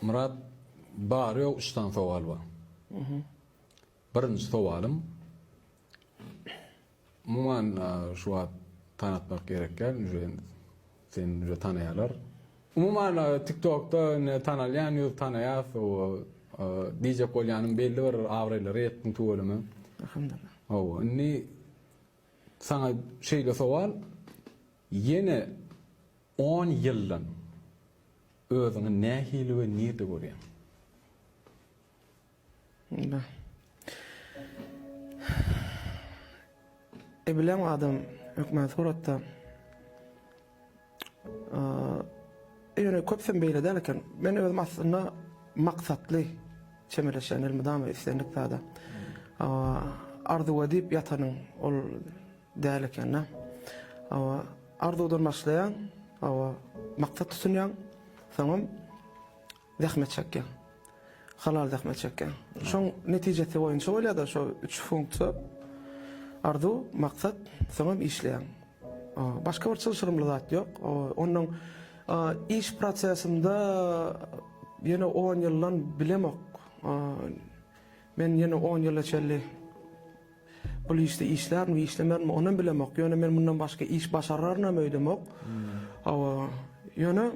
Myrat bary ýok üç sany sowal bar. Birinji sowalym umuman şu wagt tanatmak gerek däl uje seni uje tanaýarlar. Umuman tiktokda indi tanalýan ýüz tanaýas diýjek bolýanym belli bir abraýlara ýetdiň tüweleme. Alhamdullah. Hawa indi saňa şeýle sowal ýene on ýyldan Özüňi nähili we nirde görýäň? Ebilen adam hökman suratda. Ýöne köpüsem beýle däl eken. Men özüm aslynda maksatly çemeleşýän elmydama islendik zada. Arzuw edip ýatanyň ol Däl ekendä. Hawa, arzuwdan başlaýaň, hawa, maksat tutunýaň, soňam zähmet çekýäň. Halal zähmet çekýäň. Şoň netijesi boýunça bolýar-da şo üç funksiýa. Arzuw, maksat, soňam işleýäň. Başga bir çylşyrymly zat ýok. Onuň iş prosesinde ýene on ýyldan bilemok. Men ýene on ýyla çenli Bul işde işlärmi, işlemärmi, onam bilemok. Ýöne men mundan başga iş başararynam öýdemok. Hawa, ýöne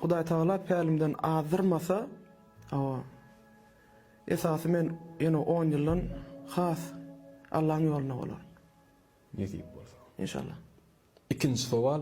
Hudaýtagala pälimden azdyrmasa, hawa, esasy men ýene on ýyldan has Allaň ýolunda bolaryn. Nesip bolsa. Inşallah. Ikinji sowal.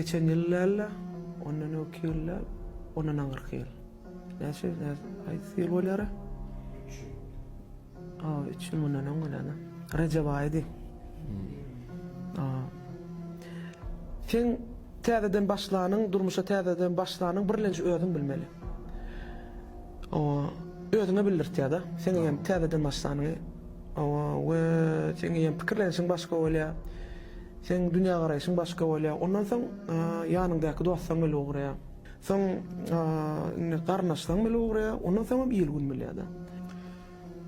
geçen ýyl däl-de, ondan öňki ýyl däl, ondan aňyrky ýyl. Näçe, haýsy ýyl bolara? A üç ýyl mundan öň geleni. Rejep aýydy. A. Seň täzeden başlanyň, durmuşa täzeden başlanyň birlenji özüň bilmeli. O özüňe bildirtýär-de. Seň eýýäm täzeden başlanyňy. O we seň eýýäm pikirlenişiň başga bolýar. Seň dünýägaraýşyň başga bolýar. Ondan soň ýanyňdaky dostlaryň bile ugraýar. Soň indi garyndaşlaryň bile ugraýar. Ondan soňam il-gün bilýär-de.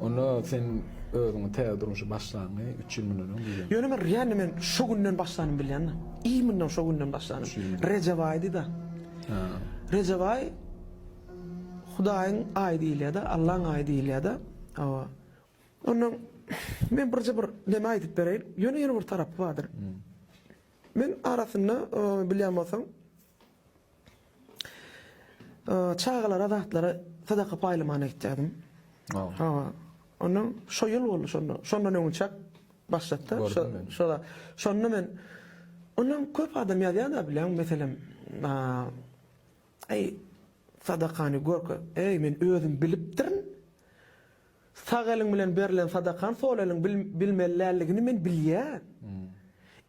Onda sen özüňi täze durmuşa başlanyňy üç ýyl mundan öň bilýäňmi? Ýöne men Riýanny men şo günden başlandym bilýäňmi? Iýminden şo günden başlandym. Rejep aýydy-da. Rejep aýy Hudaýyň aýy diýilýär-de, Allaň aýy diýilýär-de. Hawa. Onda men birje bir näme aýdyp bereýin. Ýöne ýene bir tarapy bardyr. Men arasynda bilýän bolsaň Çagalara zatlary sadaka paýlamana gitýärdim. Hawa. Ondan şo ýyl boldy şonda. Şondan öňünçäk başlapdyr. Şo-şoda. Şonda men Ondan köp adam ýazýar-da bileň, meselem, Eý, sadakany görke, eý, men özüm bilipdirin. Sag eliň bilen berlen sadakaň sol eliň bilmeli däldigini men bilýän.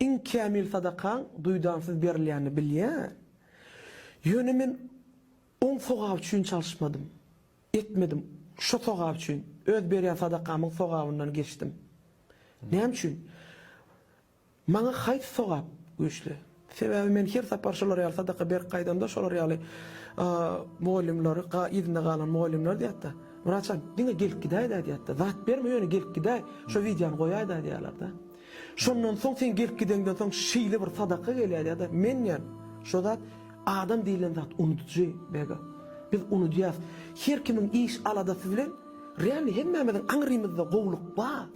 Iň kämil sadakaň duýdansyz berilýänini bilýän. Ýöne men oň sogaby üçin çalyşmadym. Etmedim. Şo sogap üçin, öz berýän sadakamyň sogabyndan geçdim. Näme üçin? Maňa haýsy sogap güýçli? Sebäbi men her sapar şolar ýaly sadaka berip gaýdamda şolar ýaly mugallymlary, yzynda galan mugallymlar diýýärdi, Wraçam, diňe gelip gidäýdä diýýärdi, zat berme ýöne gelip gidäý, şo wideony goýaýda diýýärlerdi. Şondan soň sen gelip gideňden soň şeýle bir sadaka gelýär ýa-da men diýýän şo zat Adam diýilen zat unudyjy, Bega. Biz unudýas. Her kimiň iş aladasy bilen realny hemmämiziň aňrymyzda gowulyk bar.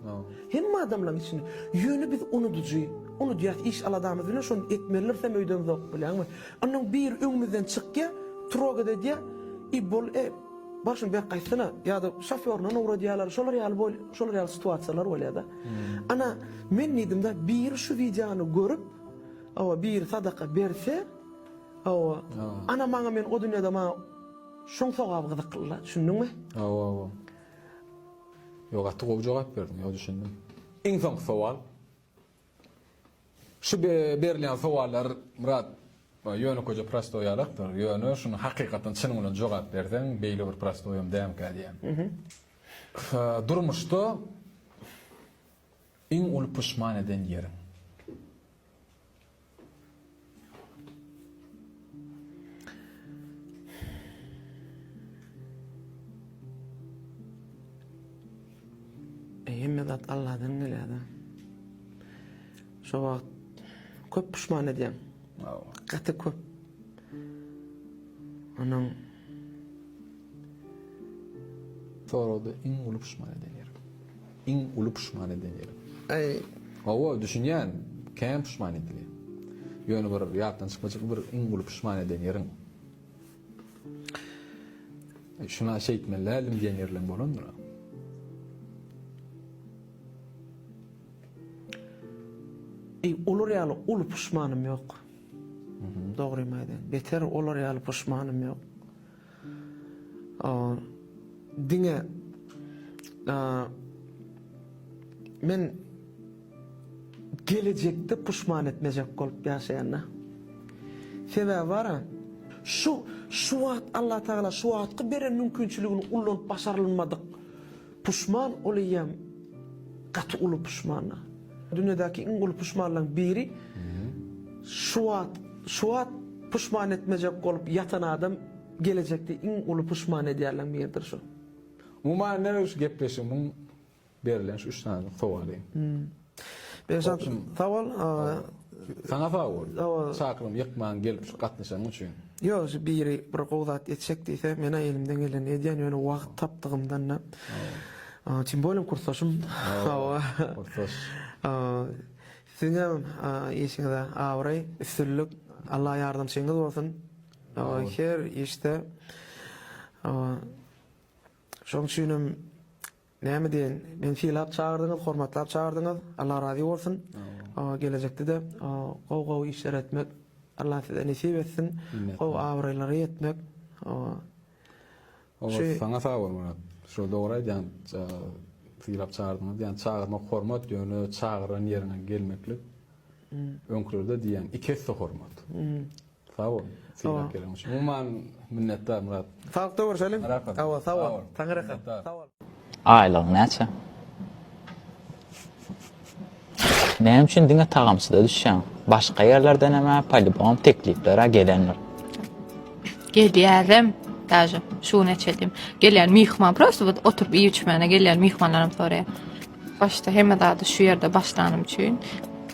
Hemme adamlaň içinde. Ýöne biz unudyjy. Unudýas iş aladamyz bilen şony etmeliris hem öýden zok bilenmi. Onnoň biri öňümizden çykýa, trogada edýä i bol e, bar şuny bek gaýtsana ýa-da şofýoryndan ugradýalar şolar ýaly bol şolar ýaly situasiýalar bolýada. Ana men diýdim-da biri şu wideony görüp, Hawa biri sadaka berse hawa ana maňa men o dünýede maňa şoň sogaby gyzyklyla düşündiňmi? Hawa hawa. Ýok gaty gowy jogap berdiň ýok düşündim. Iň soňky sowal. Şu berilýän sowallar Myrat ýönekeje prostoý ýalakdyr ýöne şuny hakykatdan çynyň bilen jogap berseň beýle bir prostoýam dämkä diýýän. Durmuşda Iň uly puşman eden ýeriň? Hemme zat Alladan gelýär-de. Şo wagt köp puşman edýän. Gaty köp. Onuň Soragda iň uly puşman eden ýerim. Iň uly puşman eden ýerim. Aý, hawa, düşünýän, kän puşman edilýär. Ýöne bir ýatdan çykmajak bir iň uly puşman eden ýeriň. Şuna şeýtmeli däldim diýen ýerleň bolandyr. Eý, olar ýaly uly puşmanym ýok. Dogrymy aýdaýyn, beter olar ýaly puşmanym ýok. Diňe men gelejekde puşman etmejek bolup ýaşaýan-da. Sebäbi bar-a, şu, şu wagt Allatagala şu wagtky beren mümkinçiligini ullanyp başarylmadyk Puşman ol eýýäm gaty uly puşmana. Dünýädäki iň uly puşmanlaň biri şu wagt şu wagt puşman etmejek bolup ýatan adam gelejekde iň uly puşman edýärleň biridir şu. Umuman öz gepleşigimiň berlen şu üç sany sowaly. Berzat sag bol. Saňa sag bol. Çakylygymy ýykmaň gelip şu gatnaşanyň üçin. Ýok şu biri bir gowy zat etjek diýse mena elimden gelenini edýän ýöne wagt tapdygymdanda. Tim bolem kursdaşym. Hawa. Kursdaş. Siziňem işiňize abraý, üstünlik. Allah ýardamçyňyz bolsun. Her işde. Şoň üçinem Näme diýeýin, meni sylap çagyrdyňyz, hormatlap çagyrdyňyz, Alla razy bolsun. Gelejekde-de gowy-gowy işler etmek Alla size nesip etsin. Gowy abraýlara ýetmek. Olar saňa sag bol Myrat. Şol dogry aýdýaň, sylap çagyrdyňyz diýýän, çagyrmak hormat, ýöne çagyran ýeriňe gelmeklik öňkülerde diýýän iki esse hormat. Sag bol. Sylap gelen üçin. Umuman minnetdar Myrat. Sagykda görşeliň. Hawa sag bol. Taňňy rahat. Sag bol. Aýlygyň näçe? Näme üçin diňe tagamçyda düşýäň? Başga ýerlerdenem a polibom teklipler a gelendir. Gelýärem daže şu gün eçedim. Gelýän myhman prosta bu oturyp iýip içmäne gelýän myhmanlarym soraýar. Başda hemme zady şu ýerde başlanym üçin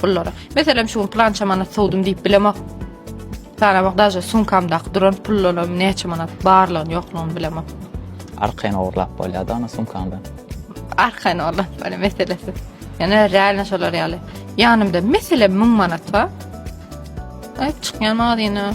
Pullara. Meselem şu gün plança manat sowdum diýip bilemok. Sanamak daşy sumkamdaky duran pullaryň näçe manat barlygyny ýoklugyny bilemok. Arkaýyn ogurlap bolýar da ony sumkamdan. Arkaýyn ogurlap bolýar meselesi. Ýöne realno şolar ýaly. Ýanymda meselem 1000 manat bar. Aýyp çykýan mazyna.